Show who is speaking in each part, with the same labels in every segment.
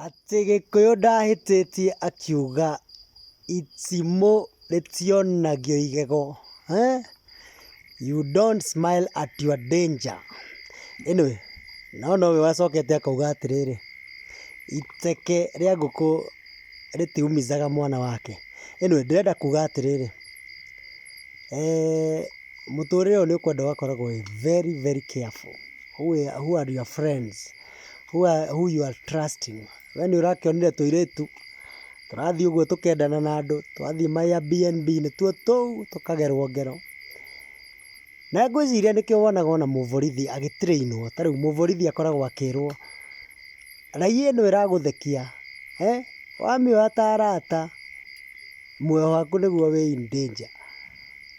Speaker 1: Atĩ gĩkũyũ ndahĩtĩtie akiuga itimũ rĩtionagio igego. You don't smile at your danger. Anyway, no nowe wacokete akauga atĩrĩrĩ, iteke rĩa ngũkũ rĩtiumithaga mwana wake. Anyway, ndĩrenda kuga atĩrĩrĩ, mũtũrĩre ũyũ nĩ ũkwenda ũgakoragwo wĩ very very careful who are your friends. who you are trusting we nĩ ũrakĩonire tũirĩtu tũrathiĩ ũguo tũkendana na andũ twathiĩ ma Airbnb nĩ tuo tũu tũkagerwo ngero. Na ngwĩciria nĩkĩo wonaga ona mũborithi agĩ train wo, ta rĩu mũborithi akoragwo akĩrwo raia ĩno ĩragũthekia wamĩoya ta arata muoyo waku nĩguo wĩ in danger.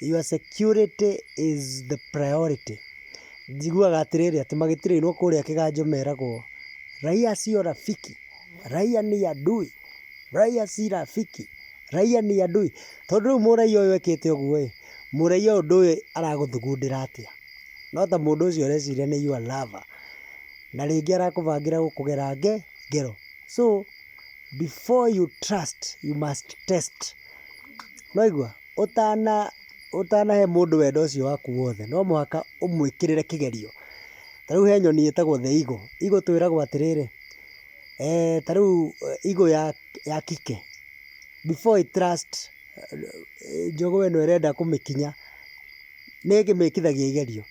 Speaker 1: Your security is the priority. Njiguaga atĩrĩrĩ atĩ magĩturĩirwo kũrĩa kĩganjo meragwo, Raia sio rafiki, raia ni adui, raia si rafiki, raia ni adui. Tondũ rĩu mũraiya ũyũ ekĩte ũguo ĩ, mũraiya ũyũ ndũĩ aragũthugundĩra atĩa. No ta mũndũ ũcio ũreciria nĩ your lover, na rĩngĩ arakũbangĩra gũkũgera ngero. So before you trust, you must test. Nĩ waigua? ũtanahe mũndũ wendo ũcio waku wothe no mũhaka ũmwĩkĩrĩre kĩgerio. Ta rĩu he nyoni ĩtagwo the eagle. Eagle twĩragwo atĩrĩrĩ, ta rĩu eagle ya kike, before ĩ trust njogoo ĩno ĩrenda kũmĩkinya, nĩ ĩkĩmĩkithagia igerio.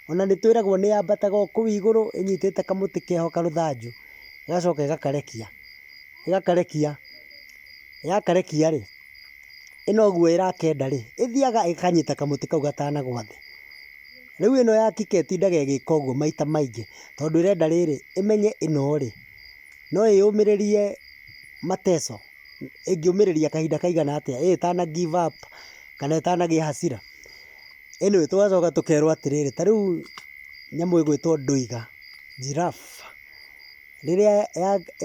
Speaker 1: Ona nĩ twĩragwo nĩ yambataga o kũu igũrũ ĩnyitĩte kamũtĩ keho karũthanju, ĩgacoka ĩgakarekia. Yakarekia rĩ. ĩno ũguo ĩrakenda rĩ, ĩthiaga ĩkanyita kamũtĩ kau gatanagwa thĩ. Rĩu ĩno ya kike ĩtindaga ĩgĩka ũguo maita maingĩ tondũ ĩrenda rĩrĩ, ĩmenye ĩno rĩ, no ĩyũmĩrĩrie mateso, ĩngĩũmĩrĩria kahinda kaigana atĩa ĩ ĩtana give up kana ĩtanagĩa hasira. Anyway tũgacoka tũkerwo atĩrĩrĩ, ta rĩu nyamũ ĩgwĩtwo ndwiga, giraffe, rĩrĩa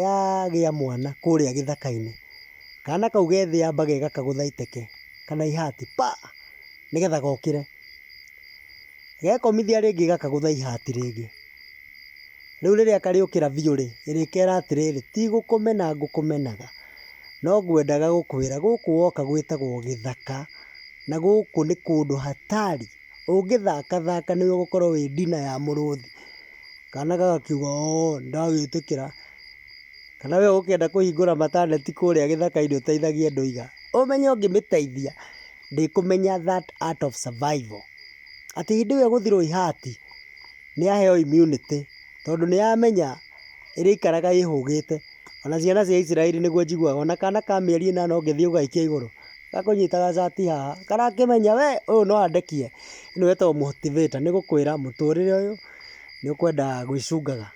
Speaker 1: yagĩa mwana kũrĩa gĩthaka-inĩ. Kana kau gethĩamba gega kagũtha iteke kana ihati pa! Nĩgetha gokĩre. Gekomithia rĩngĩ gakagũtha ihati rĩngĩ. Rĩu rĩrĩa karĩũkĩra biũ rĩ, ĩrĩkera atĩrĩrĩ, ti gũkũmena ngũkũmenaga, no ngwendaga gũkwĩra gũkũ woka gwĩtagwo gĩthaka, na gũkũ nĩ kũndũ hatari. Ũngĩthaka thaka nĩwe ũgũkorwo wĩ ndina ya mũrũthi. Kana gagakiuga oo nĩndagĩtĩkĩra. Kana we ũkĩenda kũhingũra mataneti kũrĩa gĩthaka-inĩ ũteithagie andũ iga. Ũmenye ũngĩmĩteithia ndĩkũmenya that art of survival. Atĩ hĩndĩ ĩyo ĩgũthirwo ihati nĩ yaheo immunity tondũ nĩ yamenya ĩrĩikaraga ĩhũgĩte. Ona ciana cia Isiraeli nĩguo njiguaga ona kana ka mĩeri ĩnana ũngĩthiĩ ũgaikia igũrũ gakũnyitaga cati haha karakĩmenya we ũyũ no andekie. Ĩno ĩtagwo motivator nĩ gũkwĩra mũtũrĩre ũyũ nĩ ũkwenda gwĩcungaga.